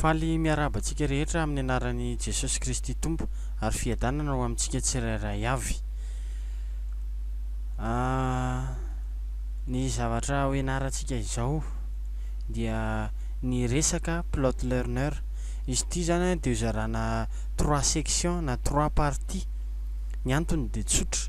Faly miarahaba antsika rehetra amin'ny anaran'i Jesosy Kristy Tompo ary Fiadanana ho amintsika tsirairay avy. Ny zavatra ho ianarantsika izao dia ny resaka plot learner. Izy ity izany dia hozarana trois sections na trois parties. Ny antony dia tsotra.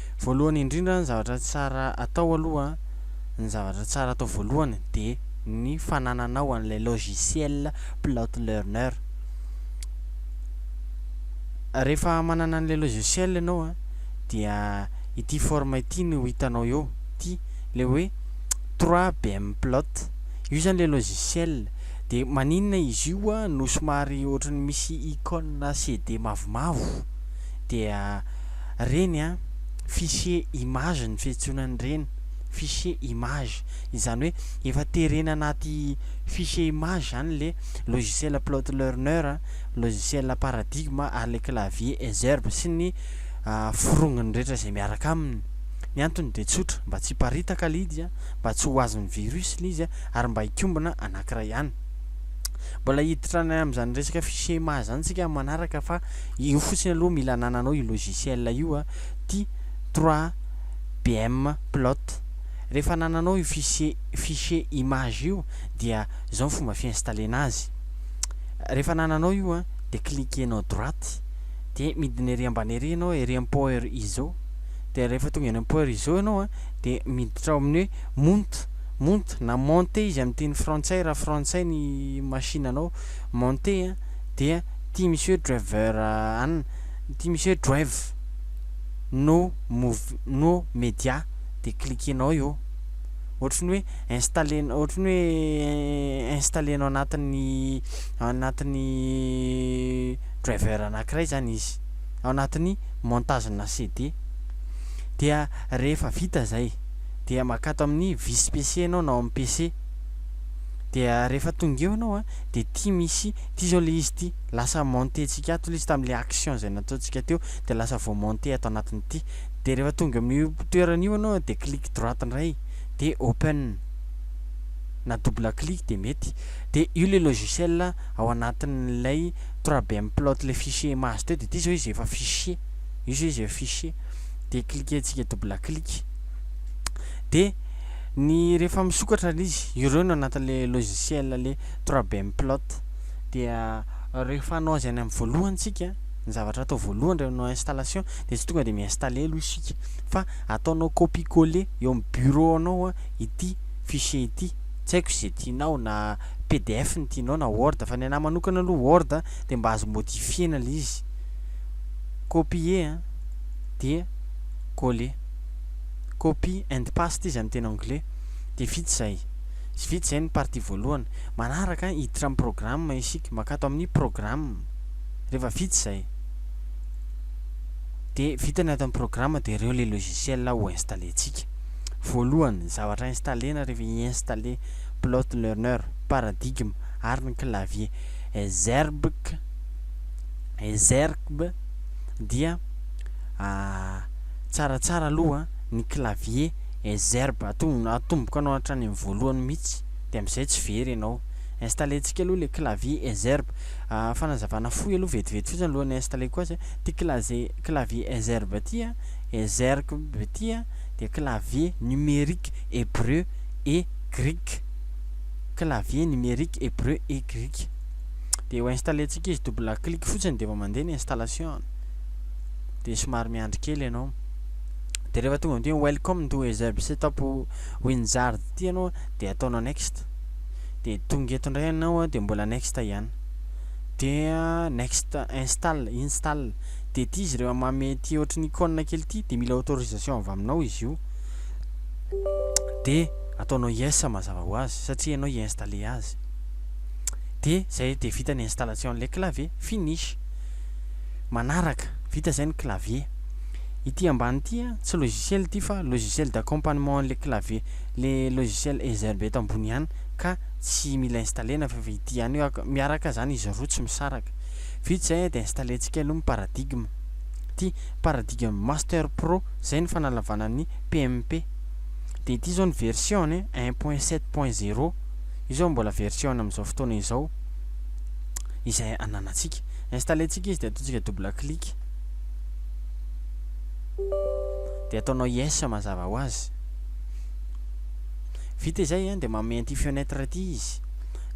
Voalohany indrindra ny zavatra tsara atao aloha, ny zavatra tsara atao voalohany dia ny fanananao an'ilay logiciel plot learner, rehefa manana an'ilay logiciel ianao a dia ity forme ity no hitanao eo, ity ilay hoe 3bmplot, io zany ilay logiciel, dia maninona izy io a no somary ohatran'ny misy icône CD mavomavo dia. Reny an, fichier image ny fiantsoana an'ireny, fichier image. Izany hoe efa terena anaty fichier image izany ilay logiciel Plotlearner, logiciel Paradigm ary ilay clavier Ezerb sy ny forongony rehetra izay miaraka aminy. Ny antony dia tsotra, mba tsy hiparitaka ilay izy, mba tsy ho azon'ny virus ilay izy ary mba hikombona anankiray ihany. Mbola hiditra any amin'izany resaka fichier maha izany isika amin'ny manaraka fa io fotsiny aloha mila anananao io logiciel io a, ty 3BM plot. Rehefa anananao io fichier fichier image io dia izao ny fomba fi-installer-na azy. Rehefa anananao io a dia cliquer-nao droite dia midina ery ambany ery ianao ery amin'ny power iso dia rehefa tonga eny amin'ny power iso ianao a dia miditra ao amin'ny hoe mount. Monte na monte izy amin'ny teny frantsay raha frantsay ny machine anao, monte a, dia ity monsieur driver an, ity monsieur drive no mov, no media dia cliquenao eo, ohatry ny hoe installer, ohatry ny hoe installer-nao anatin'ny, anatin'ny driver anankiray zany izy, ao anatin'ny montage-na CD, dia rehefa vita zay. dia makà ato amin'ny vis PC ianao na ao amin'ny PC dia rehefa tonga eo ianao a dia ity misy ity izao ilay izy ity lasa monter antsika ato ilay izy tamin'ilay action izay nataontsika teo dia lasa vao monter ato anatin'ity dia rehefa tonga amin'io toerana io ianao dia clic droite indray dia open na double clic dia mety dia io ilay logiciel ao anatin'ilay 3BM plot ilay fichier mahazo teo dia ity izao izy efa fichier io izao izy efa fichier dia cliquentsika double clic dia ny rehefa misokatra ilay izy ireo no anatin'ilay logiciel ilay 3BM plot dia rehefa hanao azy any amin'ny voalohany tsika ny zavatra atao voalohany rehefa manao installation dia tsy tonga dia mi-installer aloha isika fa ataonao copie coller eo amin'ny bureau anao a ity fichier ity tsy haiko izay tianao na pdf ny tianao na word fa ny anà manokana aloha word dia mba azo modifier-na ilay izy copier a dia coller. Copy and paste izy amin'ny teny anglais. Dia vita izay. Vita izay ny partie voalohany. Manaraka, hiditra amin'ny programme isika. Maka ato amin'ny programme. Rehefa vita izay, dia vita ny ato amin'ny programme dia ireo ilay logiciel ho installer-ntsika. Voalohany, ny zavatra installer-na rehefa hi-installer plot learner, paradigme ary ny clavier. Ezergb, Ezergb. dia tsaratsara aloha ny clavier Exerb atomboko anao hatrany amin'ny voalohany mihitsy dia amin'izay tsy very ianao installentsika aloha ilay clavier Exerb fanazavana fohy aloha vetivety fotsiny alohan'ny installeko azy ity clavier Exerb ity Exerb ity dia clavier numérique hebreu et grec clavier numérique hebreu et grec dia ho installer antsika izy double clic fotsiny dia efa mandeha ny installation dia somary miandry kely ianao dia rehefa tonga amin'ity welcome to ezeb setup winzard ity ianao dia ataonao next dia tonga eto indray ianao dia mbola next ihany dia next install install dia ity izy rehefa mame ity ohatry ny icône kely ity dia mila autorisation avy aminao izy io dia ataonao yes mazava ho azy satria ianao i-installer azy dia zay dia vita ny installation an'ilay clavier, finish. Manaraka, vita zay ny clavier. Ity ambany ity an, tsy logiciel ity fa logiciel d'accompagnement an'ilay clavier, le logiciel Ezerb eto ambony ihany ka tsy mila installer-na fa efa ity ihany eo, miaraka zany izy roa tsy misaraka. Vita izay an dia installer-tsika aloha ny paradigme. Ity paradigme master pro, zay ny fanalavana ny PMP. Dia ity zao ny version-ny, un point sept point zero. Io izao mbola version amin'izao fotoana izao izay ananantsika. Installer-ntsika izy dia ataontsika double clic. Dia ataonao yes mazava ho azy. Vita izay dia manome an'ity fenêtre ity izy.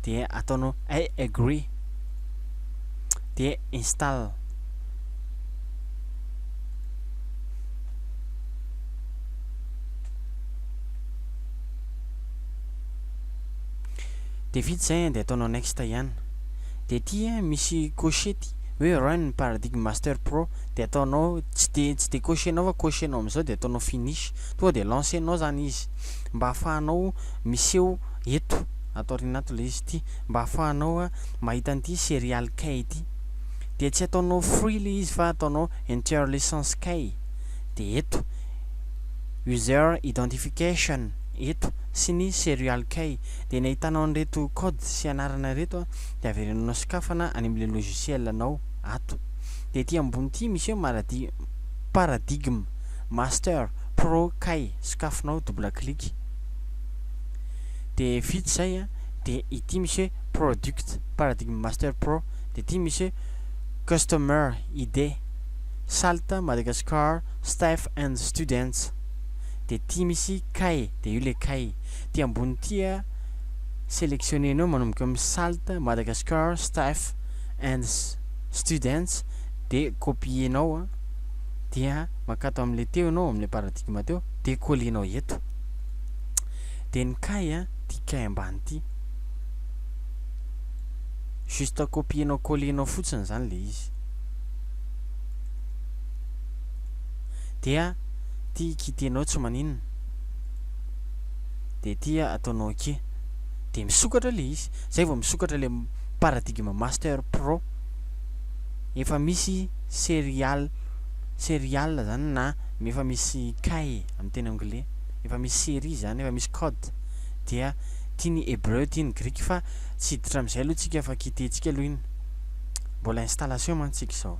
Dia ataonao I agree. Dia install. Dia vita izay an, dia ataonao next ihany. Dia ity an, misy cocher ty, hoe run ny paradigme master pro, dia ataonao, tsy dia, tsy dia cocher-nao fa cocher-nao amin'izao dia ataonao finish, tonga dia lancer-nao izany izy, mba ahafahanao miseho eto, ato aoriana ato ilay izy ity, mba ahafahanao mahita an'ity serial key ity. Dia tsy ataonao free ilay izy fa ataonao enter license key, dia eto, user identification, eto sy ny serial kay dia ny ahitanao an'ireto code sy anarana ireto dia averenao sokafana any amin'ilay logiciel anao ato dia ety ambony ity miseho maradi paradigm master pro kay sokafinao double clic dia vita izay a dia ity miseho product paradigm master pro dia ity miseho customer id salt madagascar staff and students de ty misy kay de io le kay ty ambony ty a selectionner nao manomboka am salt madagascar staff and students de copier nao a dia makato am le teo nao am le paradigme teo de coller nao eto de ny kay a ty kay ambany ty juste copier nao coller nao fotsiny zany le izy. dia ty kitenao tsy maninona dia ty ataonao akia dia misokatra le izy zay vao misokatra le paradigme master pro efa misy serial serial zany na efa misy kay amin'ny teny anglais efa misy série zany efa misy code dia ty ny hebreu ty ny grika fa tsy hiditra amin'izay aloha tsika fa kitentsika aloha iny mbola installation mantsika izao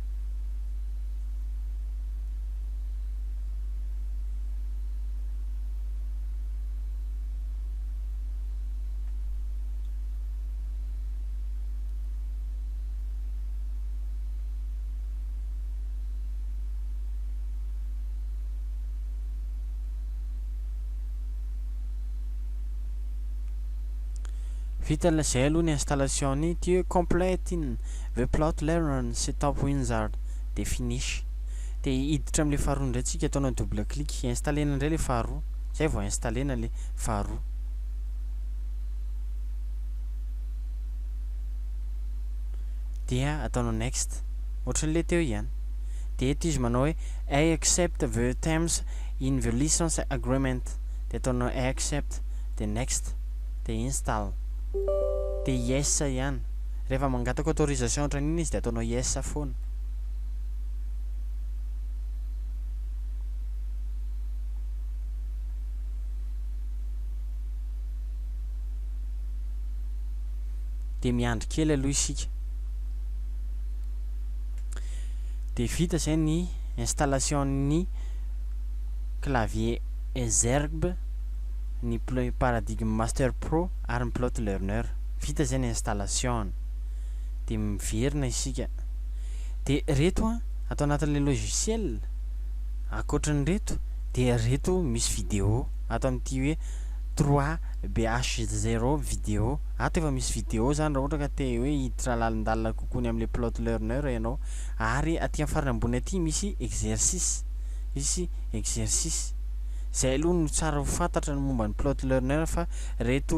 Vita ilay izay aloha ny installation-ny, tu es complète inn. The plot learn sy top winzard dia finish. Dia hiditra amin'ilay faharoa indray tsika, ataonao double click, installer-na indray ilay faharoa, izay vao installer-na ilay faharoa. Dia ataonao next. Ohatran'ilay teo ihany. Dia eto izy manao hoe I accept the terms in the license agreement. Dia ataonao I accept, dia next, dia install. Dia yes ihany. Rehefa mangataka autorisation ohatran'iny izy dia ataonao yes foana. Dia miandry kely aloha isika. Dia vita izay ny installation-n'ny clavier Ezergb, ny Play Paradigm Master Pro ary ny Plot Learner. vita izay ny installation dia miverina isika dia ireto an ato anatin'ilay logiciel ankoatran'ireto dia ireto misy video ato amin'ity hoe 3bh0 video ato efa misy video izany raha ohatra ka te hoe hiditra lalindalina kokoa ny amin'ilay plot learner ianao ary aty amin'ny farany ambony aty misy exercice misy exercice izay aloha no tsara ho fantatra ny momba ny plot learner fa ireto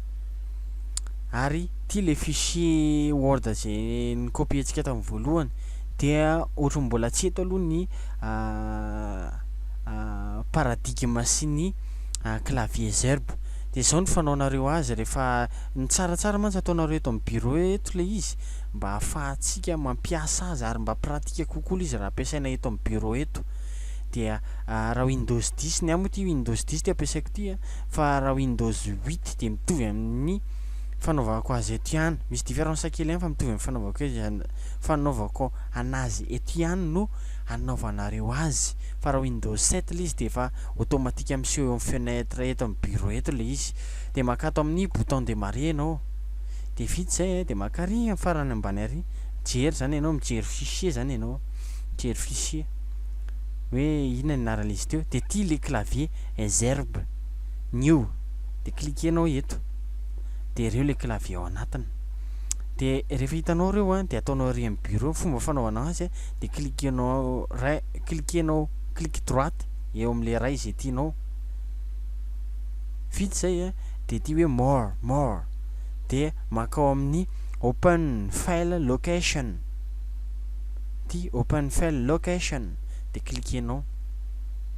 ary ity le fichier word ze ny copy antsika tamin'ny voalohany dia ohatran'ny mbola tsy eto aloha ny paradigme sy ny clavier zerb dia zao ny fanaonareo azy rehefa ny tsaratsara mantsy ataonareo eto amin'ny bureau eto le izy mba hahafahantsika mampiasa azy ary mba pratika kokoa le izy raha ampiasaina eto amin'ny bureau eto dia raha windows 10 ny amiko ity windows 10 ty ampiasaiko ity a fa raha Windows huit dia mitovy amin'ny fanaovako azy eto ihany. Misy différence kely ihany fa mitovy amin'ny fanaovako azy fanaovako anazy eto ihany no anaovanareo azy. Fa raha Windows sept ilay izy dia efa automatique miseho eo amin'ny fenêtre eto amin'ny bureau eto ilay izy. Dia makà ato amin'ny bouton démarrer ianao. Dia vita izay dia makà ary amin'ny farany ambany ary. Mijery izany ianao, mijery fichier izany ianao. Mijery fichier. Hoe inona ny anaran'izy teo. Dia ity ilay clavier. Ezerb, New, dia cliquer-nao eto, dia ireo ilay clavier ao anatiny, dia rehefa hitanao ireo an, dia ataonao ery amin'ny bureau, fomba fanaovana azy an, dia cliquer-nao ray, cliquer-nao clic droite eo amin'ilay ray izay tianao, vita izay an, dia ity hoe more, more, dia mankao amin'ny open file location, ity open file location, dia cliquer-nao.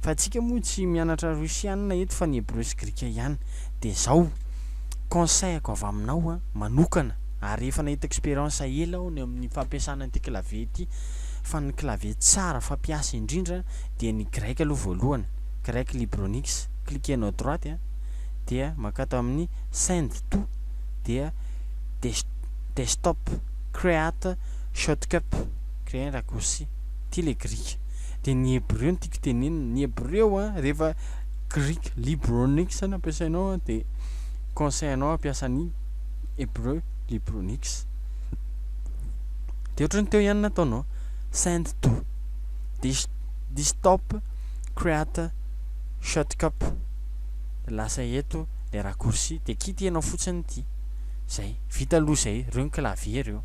Fa antsika moa tsy mianatra Russiana eto fa ny Hebreo sy Grika ihany. Dia zao, conseil-ko avy aminao an, manokana, ary efa nahita expérience ela aho ny amin'ny fampiasana ity clavier ity, fa ny clavier tsara fampiasa indrindra dia ny grec aloha voalohany, grec libronix, cliquer-nao droite an, dia mankato amin'ny send to, dia des, desktop, create shortcut, creer raccourci, ity ilay grika. dia ny hebreo no tiako tenenina, ny hebreo an, rehefa Greek Libronics no ampiasainao an, dia conseil anao hampiasa ny hebreo Libronics. Dia ohatran'ny teo ihany nataonao, send to, dia dia stop, create, shortcut, dia lasa eto le raccourci, dia kitihanao fotsiny ity, zay, vita aloha zay, reo ny clavier reo.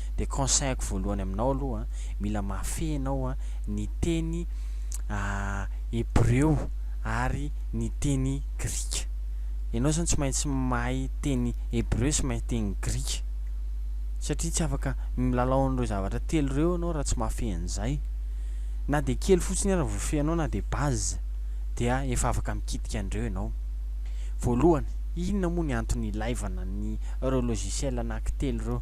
dia conseillako voalohany aminao aloha mila mahafehy ianao a ny teny hebreo ary ny teny grika ianao zany tsy maintsy mahay teny hebreo sy mahay teny grika satria tsy afaka milalao an'ireo zavatra telo ireo ianao raha tsy mahafehy an'izay na dia kely fotsiny ary vofehinao na dia base dia efa afaka mikitika an'ireo ianao voalohany inona moa ny antony ilaivana ny ireo logiciel anaky telo ireo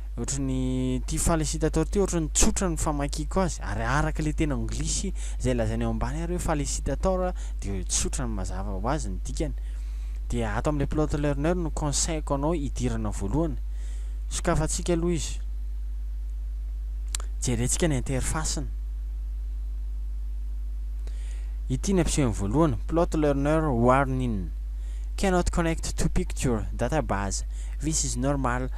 Ohatran'ny ity falicitator ity ohatran'ny tsotra ny famakiako azy ary araka ilay teny anglisy izay lazainy eo ambany ary hoe falicitator dia tsotra ny mazava ho azy ny dikany. Dia ato amin'ilay plot learner no conseil-ko anao hidirana voalohany. Sokafantsika aloha izy. Jerentsika ny interface-ny. Ity ny ampisehony voalohany, plot learner warning. Cannot connect to picture, database. This is normal.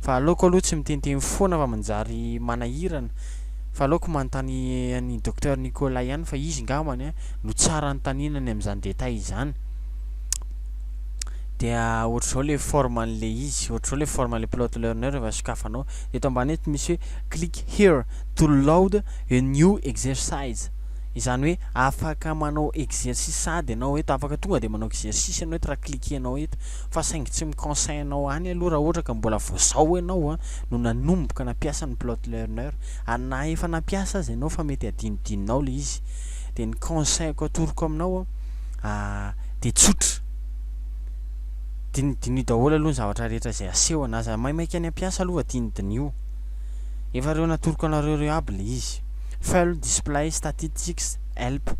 Fa aleoko aloha tsy mitenteno foana fa manjary manahirana. Fa aleoko manontany an'i Docteur Nicolas ihany fa izy ngambany no tsara anontaniana ny amin'izany détail izany. Dia ohatr'izao ilay forme an'ilay izy, ohatr'izao ilay forme an'ilay plot learner rehefa sokafanao. Eto ambany eto misy hoe click here to load a new exercise. Izany hoe afaka manao exercice sady ianao eto, afaka tonga dia manao exercice ianao eto raha cliquer-nao eto. Fa saingy tsy mi-conseil anao any aloha raha ohatra ka mbola vao zao ianao no nanomboka nampiasa ny plot learner ary na efa nampiasa aza ianao fa mety adinodinonao le izy de ny conseil-ko atoroko aminao de tsotra dinidiniho daholo aloha ny zavatra rehetra izay asehony aza maimaika any ampiasa aloha fa dinidiniho efa reo natoroko anareo reo aby le izy full display statistics help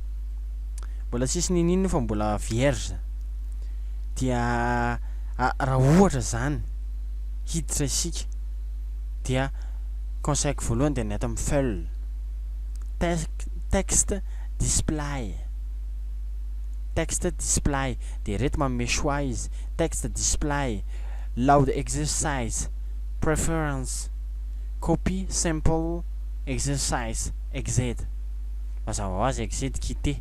mbola tsisy nino ino fa mbola vierge dia raha ohatra izany hiditra isika dia conseil-ko voalohany dia ny ato amin'ny full text display text display dia ireto manome choix izy text display loud exercise preference copy simple exercise exit mazava ho azy exit quitter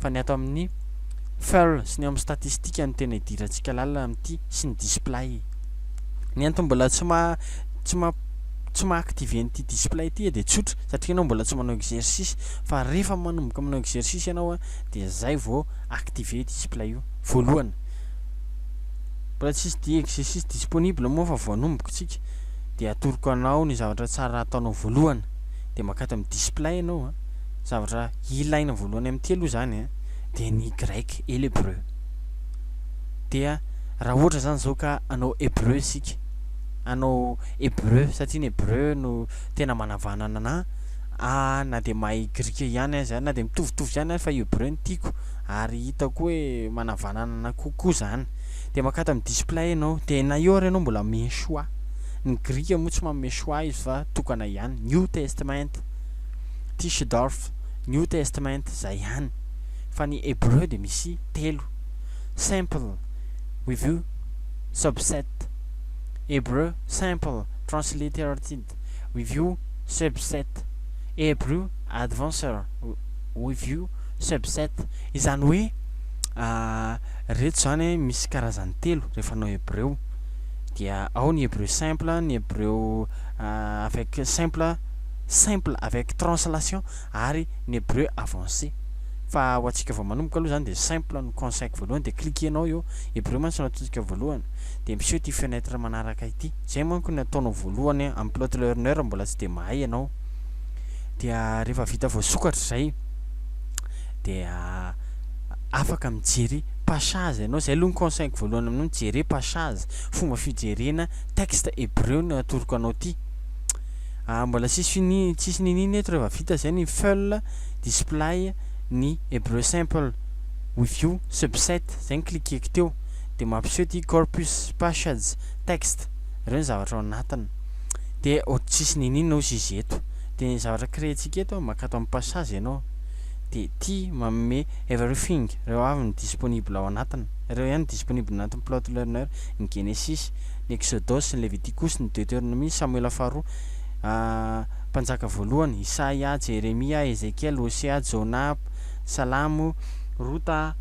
fa ny ato amin'ny furl sy ny eo amin'ny statistika no tena idirantsika lalina amin'ity sy ny display. Ny antony mbola tsy maha tsy maha tsy maha activer an'ity display ity dia tsotra satria ianao mbola tsy manao exercice fa rehefa manomboka manao exercice ianao dia izay vao activer io display io voalohany mbola tsisy dia exercice disponible moa fa vao anomboka tsika dia atoroko anao ny zavatra tsara ataonao voalohany dia makata amin'ny display ianao Zavatra ilaina voalohany amin'ny ity aloha izany an, dia ny grec et l'hebreu. Dia raha ohatra izany izao ka hanao hebreu isika, hanao hebreu satria ny hebreu no tena manavanana anà, ah na dia mahay grika ihany aza, na dia mitovitovy ihany aza fa hebreu no tiako ary hitako hoe manavanana anà kokoa izany. Dia mankatò amin'ny display ianao, dia na eo ary ianao mbola michoix, ny grika moa tsy manome choix izy fa tokana ihany, New Testament. Tischendorf, New Testament zay ihany fa ny Hebreu dia misy telo, Sample Review Subset, Hebrew Sample Transliterated Review Subset, Hebrew Advancer Review Subset, izany hoe reto izany misy karazany telo rehefa hanao hebreu dia ao ny hebreu simple, ny hebreu avec simple, simple avec translation ary ny hebreu avancé fa ho antsika vao manomboka aloha zany dia simple no conseil-ko voalohany dia cliquer-nao eo hebreu mantsy no ataontsika voalohany dia miseho ity fenêtre manaraka ity zay manko ny ataonao voalohany amin'ny plot learner mbola tsy dia mahay ianao dia rehefa vita voasokatra izay dia afaka mijery passage ianao zay aloha ny conseil-ko voalohany aminao mijery passage fomba fijerena texte hebreu no atoroko anao ity ah mbola tsisy fini tsisy niniana eto rehefa vita zay ny full display ny hebreu simple with io subset zay ny cliqueko teo de mampiseho ty corpus passage text reo ny zavatra ao anatiny de ohatry tsisy niniana ozy izy eto de ny zavatra créentsika eto mankato am passage ianao de ty manome everything reo avy ny disponible ao anatiny reo ihany ny disponible anatin'ny plotlearner ny genesis ny Eksodosy, ny Levitikosy, ny Deoteronomia, Samoela Faharoa, Mpanjaka Voalohany, Isaia, Jeremia, Ezekiela, Hosea, Jona, Salamo, Rota,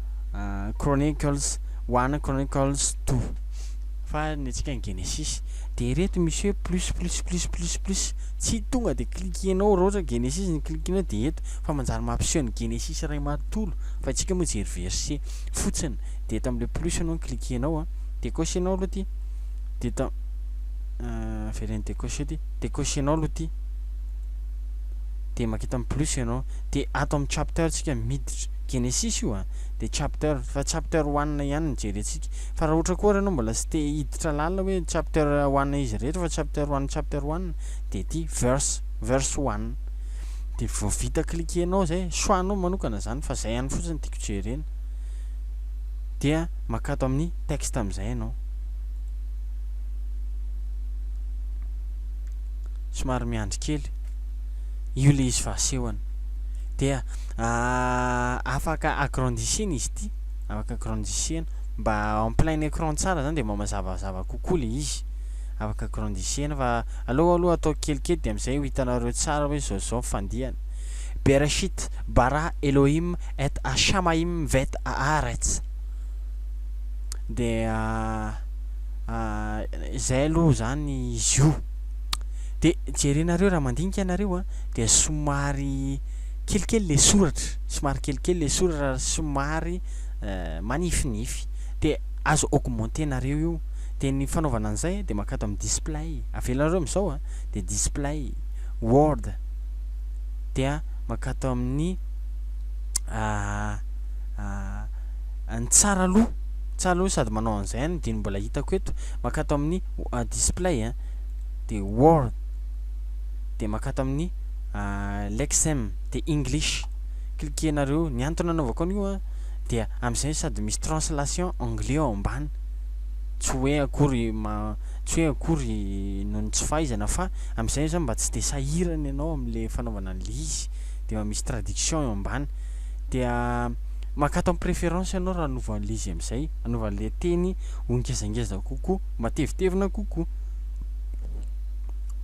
Chronicles one, Chronicles two, fa ny antsika ny Genesisy, dia ireto misy hoe plus, plus, plus, plus, plus, tsy tonga dia cliquer-nao raha ohatra Genesisy no cliquer-nao dia eto, fa manjary mampiseho ny Genesisy iray manontolo, fa antsika moa hijery verset fotsiny, dia eto amin'ilay plus no cliquer-nao an. Decocher nao aloha ty de ta ah veleno decocher ty decocher nao aloha ty de makita am plus ianao de ato am chapter tsika miditra genesis io ah de chapter fa chapter one ihany no jerentsika fa raha ohatra koa ary ianao mbola tsy te hiditra lalina hoe chapter one izy rehetra fa chapter one chapter one de ty verse verse one de vao vita cliquer nao zay choix nao manokana zany fa zay ihany fotsiny tiako jerena. Dia maka ato amin'ny texte amin'izay ianao. Somary miandry kely. Io ilay izy fa asehony. Dia afaka agrandissena izy ity. Afaka agrandissena. Mba en plein écran tsara izany dia mba mazavazava kokoa ilay izy. Afaka agrandissena fa aleo aloha atao kelikely dia amin'izay ho hitanareo tsara hoe izao izao ny fandihany. Bereshit bara Elohim et à Shamaïm vet haaretz, dia izay aloha izany izy io, dia jerenareo raha mandinika ianareo a, dia somary kelikely ilay soratra, somary kelikely ilay soratra ary somary manifinify, dia azo augmenter-nareo io, dia ny fanaovana an'izay dia mankao ato amin'ny display, avelanareo amin'izao a, dia display, word, dia mankao ato amin'ny. ny tsara aloha tsara aloha sady manao an'izay any dia mbola hitako eto makato amin'ny display a dia word dia makato amin'ny lexem dia english klikenareo ny antony anaovako an'io a dia amin'izay sady misy translation anglais ao ambany tsy hoe akory ma tsy hoe akory noho ny tsy fahaizana fa amin'izay zany mba tsy dia sahirana ianao amin'le fanaovana an'le izy dia efa misy traduction eo ambany dia maka ato amin'ny préférence ianao raha hanova an'ilay izy amin'izay, hanova an'ilay teny ho ngezangeza kokoa, matevitevina kokoa.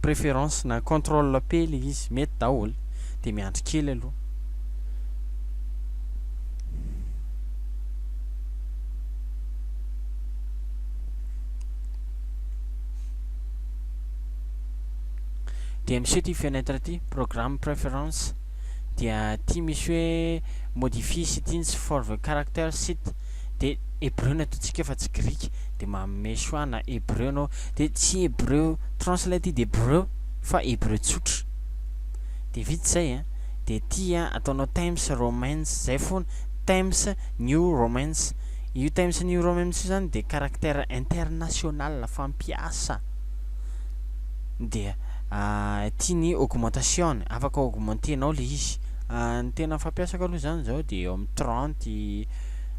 Préférence na contrôle P ilay izy, mety daholo. Dia miandry kely aloha. dia miseho ity fenêtre ity, programme preference, dia ity misy hoe modifier settings for the character site dia hebreu no ataontsika fa tsy grika dia manome choix na hebreu ianao dia tsy hebreu translated hebreu fa hebreu tsotra dia vita izay a dia ity a ataonao times romance izay foana times new romance io times new romance io izany dia caractère international fampiasa dia ity ny augmentation afaka augmenter nao le izy ny tena fampiasako aloha zany zao de eo amin'ny trente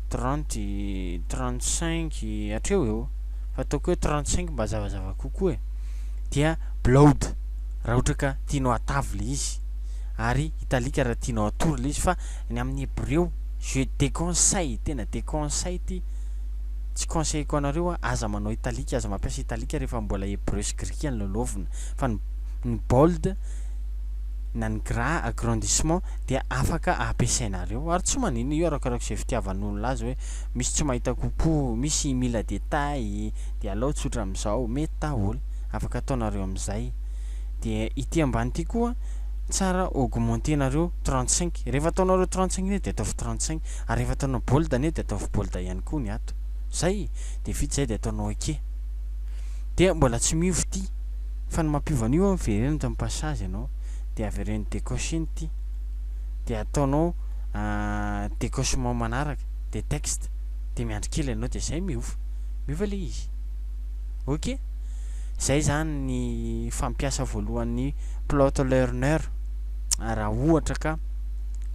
trente trente cinq hatreo eo fa ataoko hoe trente cinq mba zavazava kokoa e dia bload raha ohatra ka tianao atavy le izy ary italique raha tianao atory le izy fa ny amin'ny hebreo je déconseille tena déconseille ty Tsy conseilleko anareo a, aza manao italique, aza mampiasa italique rehefa mbola hebreu sy grika no lalaovina, fa ny ny bold na ny gras, agrandissement, dia afaka ampiasainareo, ary tsy maninona io arakaraki'izay fitiavan'olona azy hoe misy tsy mahita coucou, misy mila détails, dia alao tsotra amin'izao, mety daholo, afaka ataonareo amin'izay. Dia ity ambany ity koa tsara augmenter-nareo trente cinq, rehefa ataonareo trente cinq indray dia ataovy trente cinq. Ary rehefa ataonao bold anie dia ataovy bold ihany koa ny ato. Zay! Dia vita zay dia ataonao ok. Dia mbola tsy miova ity. Fa ny mampiova an'io an, vereno eto amin'ny passage ianao. Dia avereno decocher ny ity. Dia ataonao decochement manaraka. Dia text. Dia miandry kely ianao dia zay miova. Miova ilay izy. Ok? Zay zany ny fampiasa voalohan'ny plotlearner. Raha ohatra ka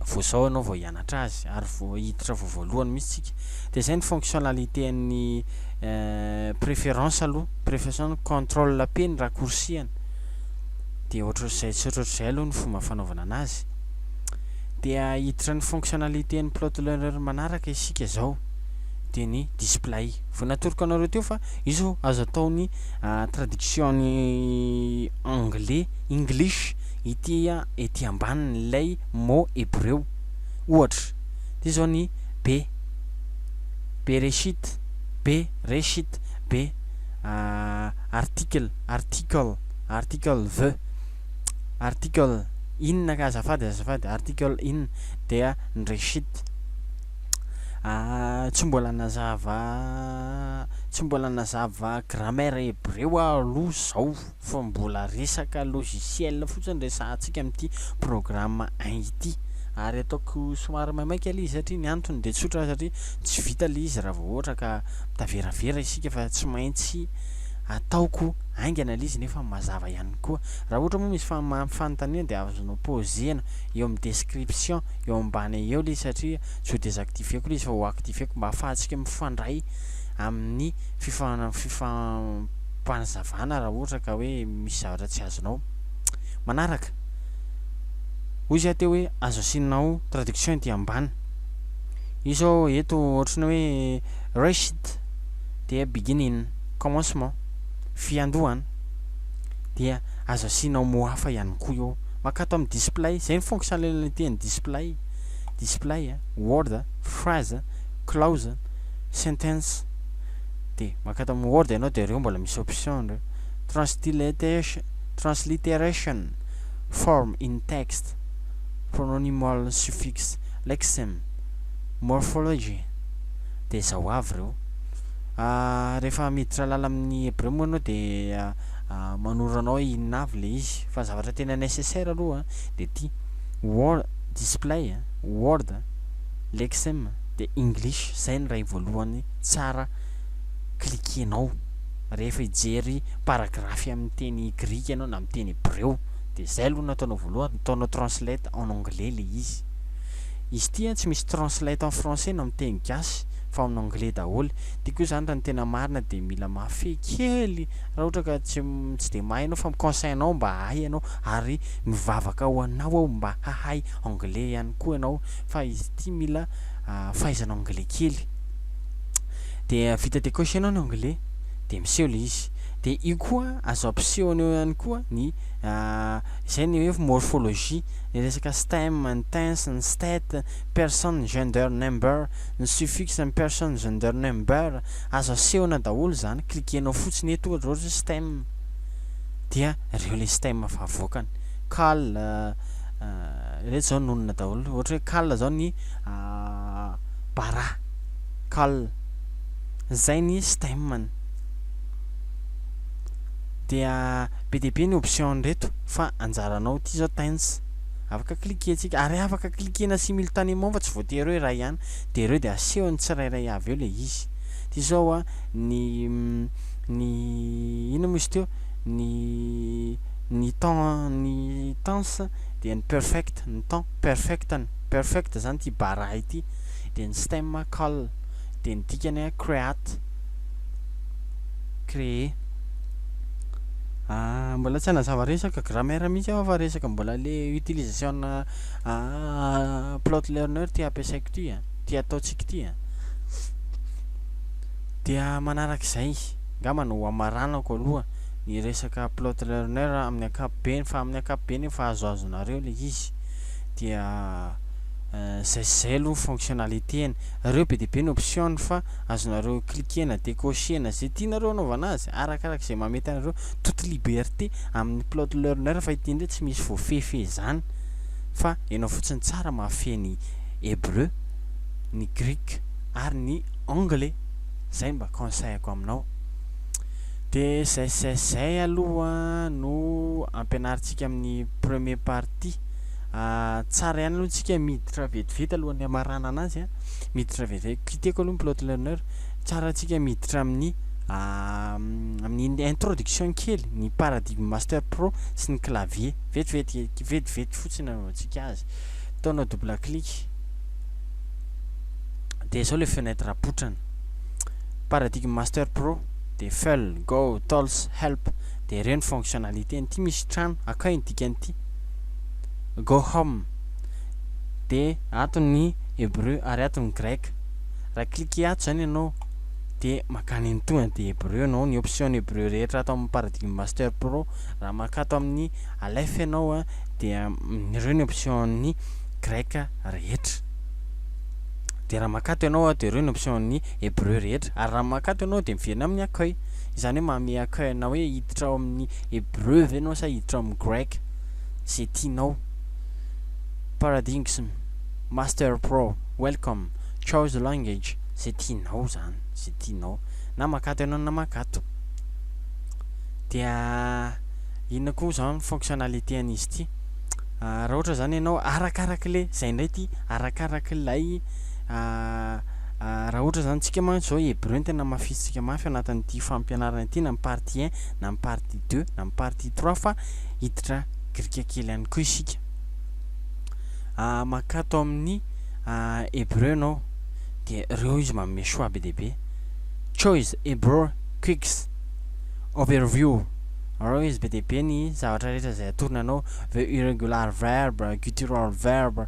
vao zao ianao vao hianatra. manatra azy ary vao hiditra vao voalohany mihitsy tsika dia izay ny fonctionnalité an'ny préférence aloha préférence contrôle P ny raccourci an dia ohatr'izay tsy ohatr'izay aloha ny fomba fanaovana anazy dia hiditra ny fonctionnalité an'ny plot learner manaraka isika izao dia ny display vao natoroko anareo teo fa io izao azo atao ny traduction ny anglais english ity ety ambaniny ilay mo hebreo. Ohatra, dia izao ny be, bereshit, be, reshit, be, article, article, article the, article inona ka azafady, azafady, article in, dia ny reshit. Tsy mbola nazava, tsy mbola nazava grammaire hebreo aho aloha izao. fa mbola resaka logiciel fotsiny resahantsika amin'ity programme un ity ary ataoko somary maimaika ilay izy satria ny antony dia tsotra satria tsy vita ilay izy raha vao ohatra ka mitaveravera isika fa tsy maintsy ataoko haingana ilay izy nefa mazava ihany koa raha ohatra moa misy fanontaniana dia azonao pozena eo amin'ny description eo ambany eo ilay izy satria tsy ho désactiveko ilay izy fa ho activeko mba hahafahantsika mifandray amin'ny fifan mpanazavana raha ohatra ka hoe misy zavatra tsy azonao manaraka. Hoy izy aho teo hoe azo asianao traduction ety ambany. Io zao eto ohatry ny hoe Reshit dia beginning, commencement, fiandohana. Dia azo asianao mots hafa ihany koa eo. Mankato amin'ny display, zay ny fonctionnalités an'ny display, display, word, phrase, clause, sentence. de maka ato amin'ny word ianao de reo mbola misy option reo transliteration transliteration form in text pronominal suffix lexeme morphology de zao avy reo ah, rehefa miditra lala amin'ny hebreo moa ianao de ah, ah, manoro anao inona avy le izy fa zavatra tena nécessaire aloha de ty word display word lexeme de english zay ny ray voalohany tsara cliquer-nao rehefa hijery paragraphe amin'ny teny grika ianao na amin'ny teny hebreo dia izay aloha no ataonao voalohany, ataonao translate en anglais ilay izy. Izy ity an tsy misy translate en français na amin'ny teny gasy fa en anglais daholo. Dia koa izany raha ny tena marina dia mila mahafehy kely raha ohatra ka tsy tsy dia mahay ianao fa mi-conseil anao mba hahay ianao ary mivavaka ho anao aho mba hahay anglais ihany koa ianao fa izy ity mila fahaizana anglais kely. de vita de cocher nao ny onglet de miseho le izy de io koa azo ampisehony eo ihany koa ny izay ny hoe morphologie ny resaka stem ny tense ny state person gender number ny suffix ny person gender number azo asehona daholo zany cliquer nao fotsiny eto ohatra hoe stem dia reo le stem efa avoakany cal reto zao nonina daholo ohatra hoe cal zao ny Bara, Kal. Zay ny Steam-ny. Dia be dia be ny options reto fa anjaranao ity zao Tense. Afaka cliquer-tsika ary afaka cliquer-na simultanément fa tsy voatery hoe iray ihany. De ireo de asehon'ny tsirairay avy eo le izy. Ty zao a, ny ny inona moa izy teo? Ny ny temps ny tense dia ny perfect ny temps perfect-ny. Perfect zany ity baraha ity, dia ny stem call, dia ny dikany create, créer. Ah, mbola tsy hanazava resaka grammaire mihitsy aho fa resaka mbola le utilisation-na Plotlearner ty ampiasaiko ty a, ty ataontsika ty a. Dia manarak'izay, angamba no hamaranako aloha ny resaka Plotlearner amin'ny ankapobeny fa amin'ny ankapobeny io fahazoazonareo le izy. dia zay sy zay aloha ny fonctionnalités-ny, reo be dia be ny options-ny fa azonareo cliquer-na, decocher-na, ze tianareo anaovana azy, arakaraka izay mahamety anareo, toute liberté amin'ny plot learner fa ity ndray tsy misy voafehy-fehy izany fa enao fotsiny tsara mahafehy ny hebreu, ny greek ary ny anglais, zay mba conseil-ko aminao. Dia zay sy zay sy zay aloha no ampianarintsika amin'ny premier partie. ity. Tsara ihany aloha tsika miditra vetivety alohan'ny hamaranana azy a. Miditra vetivety. Kitihako aloha ny plot learner. Tsara tsika miditra amin'ny amin'ny introduction kely ny paradigme master pro sy ny clavier. Vetivety vetivety fotsiny anaovantsika azy. Ataonao double clic. Dia izao le fenêtre apotrany. Paradigme master pro dia full go tools help dia ireo ny fonctionnalités nty misy trano akay ny dikan'ity go home dia ato ny hebreu ary ato ny grec raha cliquer ato izany ianao dia makany any tonga dia hebreu ianao ny option ny hebreu rehetra ato amin'ny paradigme master pro raha makato amin'ny alef ianao dia ireo ny option ny grec rehetra dia raha makato ianao dia ireo ny option ny hebreu rehetra ary raha makato ianao dia miverina amin'ny akay Izany hoe manome accueil anao hoe hiditra ao amin'ny hebreu ve ianao sa hiditra ao amin'ny grec, izay tianao. Paradigms master pro, welcome, choose a language, izay tianao izany, izay tianao. Na makato ianao na makato. Dia inona koa izany ny fonctionnalité an'izy ity? Raha ohatra izany ianao, arakarak'ilay, izay indray ity, arakarak'ilay Raha ohatra izany tsika mantsy izao Hebreo no tena hamafisintsika mafy ao anatin'ity fampianarana ity na ny partie un na ny partie deux na ny partie trois fa hiditra Grika kely ihany koa isika. Makato amin'ny Hebreo ianao dia reo izy manome choix be dia be. Choice Hebrew Quicks Overview Reo izy be dia be ny zavatra rehetra izay atorony anao, the irregular verb, guttural verb,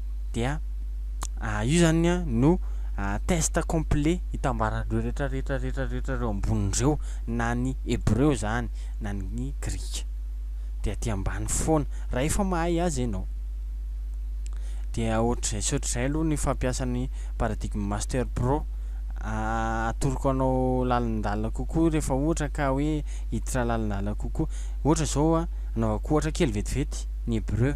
dia io zany no test complet hitambaran'ireo rehetra rehetra rehetra rehetra ireo ambonin'ireo na ny hebreo zany na ny grika dia aty ambany foana raha efa mahay azy ianao dia ohatr'izay sy ohatr'izay aloha ny fampiasan'ny paradigme master pro atoroko anao lalindala kokoa rehefa ohatra ka hoe hiditra lalindala kokoa ohatra zao a anaovako ohatra kely vetivety ny hebreo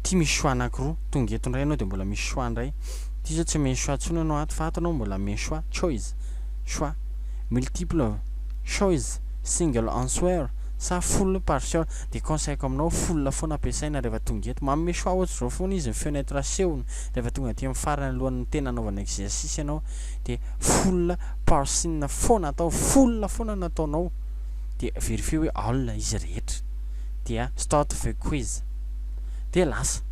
Ity misy choix anakiroa, tonga eto indray ianao dia mbola misy choix indray. Ity izao tsy omeny choix intsony ianao ato fa ato ianao mbola omeny choix, choice, choix, multiple choice, single answer sa full partial. Dia conseil-ko aminao, full foana ampiasaina rehefa tonga eto. Manome choix ohatr'izao foana izy, ny feony eto rasehony rehefa tonga aty amin'ny farany alohan'ny tena hanaovana exercice ianao dia full parsin foana atao, full foana no ataonao dia verifier hoe all izy rehetra dia start the quiz. dia lasa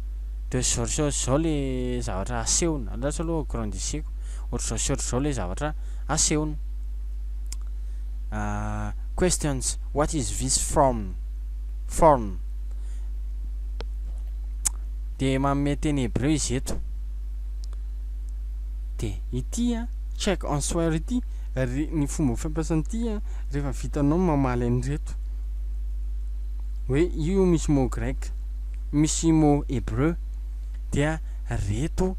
de zao zao ry zao le zavatra asehony andraso aloha grandisseko otry zao sy otry zao le zavatra asehony ah questions what is this from form de manome teny hebreu izy eto de ity a check en soir ity ry ny fomba fampiasana ity a rehefa vitanao mamaly an'ireto Hoe io misy mot grec, misy mot hebreu dia reto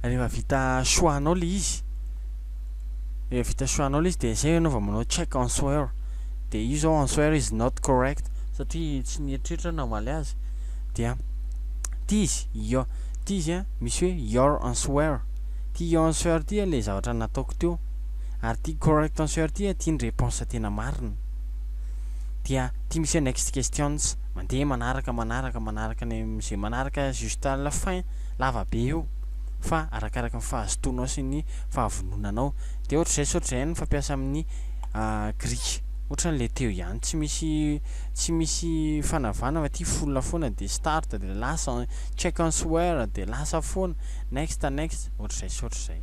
rehefa vita choix anao le izy, rehefa vita choix anao le izy dia zay enao vao manao check answer dia io zao answer is not correct satria tsy nieritreritra aho namaly azy dia ty izy io ty izy a misy hoe your answer ty your answer ty a le zavatra nataoko teo ary ty correct answer ty a ty ny réponse tena marina dia ty misy hoe next questions mandeha manaraka manaraka manaraka ny amin'izay manaraka juste à la fin lava be io fa arakaraka ny fahazotoanao sy ny fahavononanao dia ohatr'izay sao ohatr'izay ny fampiasa amin'ny Greek ohatran'ilay teo ihany tsy misy tsy misy fanavana fa ty full foana dia start dia lasa check answer dia lasa foana next next ohatr'izay sao ohatr'izay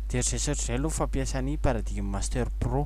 dia ohatr'izay sao ohatr'izay aloha fampiasa ny paradigme master pro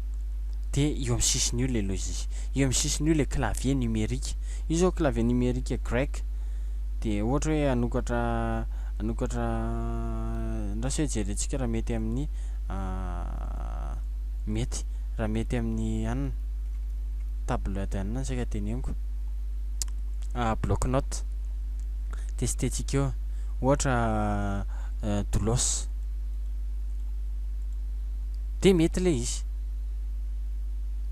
dia eo amin'ny sisiny io ilay logiciel, eo amin'ny sisiny io ilay clavier numérique. Io izao clavier numérique grec dia ohatra hoe hanokatra hanokatra andraso hoe jerentsika raha mety amin'ny ah, mety raha mety amin'ny anona table de anona saika teneniko ah, bloc note testetsika eo ohatra ah, doulos Dia mety ilay izy.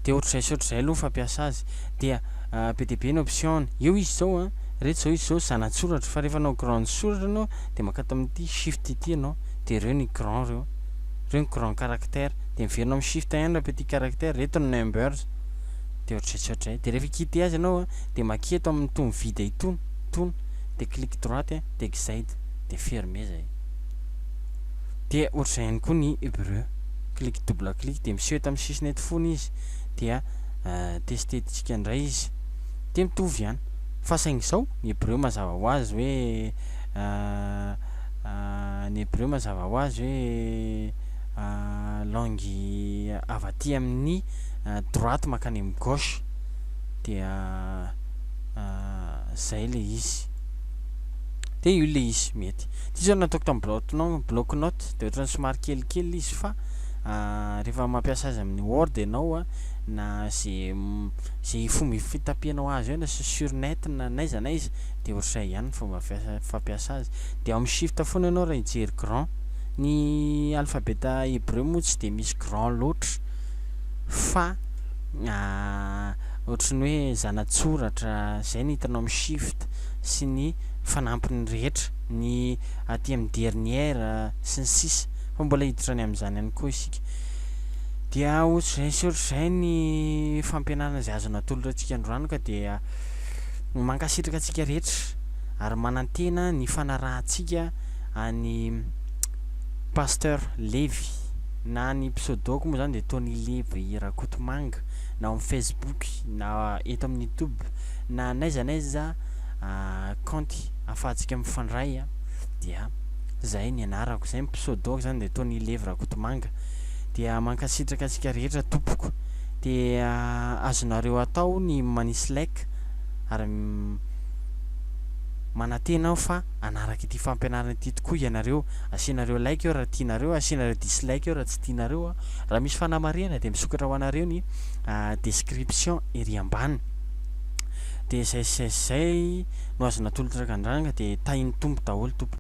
Dia ohatr'izay sy ohatr'izay aloha ny fampiasa azy. Dia be dia be ny option-ny. Eo izy izao an, ireto izao izy izao zana-tsoratra. Fa rehefa hanao grande soratra ianao dia makata amin'ity shift ity ianao. Dia ireo ny grand ireo. Ireo ny grand caractère. Dia miverina amin'ny shift ihany raha petit caractère. Ireto ny numbers. Dia ohatr'izay sy ohatr'izay. Dia rehefa hi-quitter azy ianao an, dia makia eto amin'itony vide itony. Itony. Dia clic droite dia exit. Dia fermer izay. Dia ohatr'izay ihany koa ny Hebreu. Clic double clic dia miseho eto amin'ny sisiny eto fony izy dia testetsika indray izy. Dia mitovy ihany. Fa saingy izao ny Hebreu mazava ho azy hoe ny Hebreu mazava ho azy hoe langue avy aty amin'ny droite mankany amin'ny gauche. Dia izay ilay izy. de io le izy mety ty zao nataoko tam bloc note bloc note de ohatrany somary kelikely le izy fa rehefa mampiasa azy amin'ny word ianao a na ze ze fomba fitapianao azy eo na sy sur net na n'aiza n'aiza de ohatr'izay ihany ny fomba fiasa fampiasa azy de amin'ny shift foana ianao raha hijery grand ny alphabet hebreu moa tsy de misy grand loatra fa ohatrany hoe zanatsoratra zay ny hitanao amin'ny shift sy ny fanampiny rehetra, ny aty amin'ny dernière sy ny sisa fa mbola hiditra any amin'izany ihany koa isika. Dia ohatr'izay sy ohatr'izay ny fampianarana izay azon'ny atolotratsika androany ka dia mankasitraka antsika rehetra ary manantena ny fanarahantsika an'i Pasteur Levy na ny pseudo-ko moa izany dia Tony Levy Rakotomanga na ao amin'ny Facebook na eto amin'ny YouTube. na n'aiza n'aiza kaonty afahantsika mifandray a dia zay ny anarako zay ny pseudo-ko zany dia Tony Levi Rakotomanga dia mankasitraka antsika rehetra tompoko dia azonareo atao ny manisy like ary manantena aho fa hanaraka ity fampianarana ity tokoa ianareo asianareo like eo raha tianareo asianareo dislike eo raha tsy tianareo raha misy fanamarihana dia misokatra ho anareo ny description ery ambany dia zay sy zay sy zay no azo natolotra ka andragna dia tahin'ny Tompo daholo tompoko.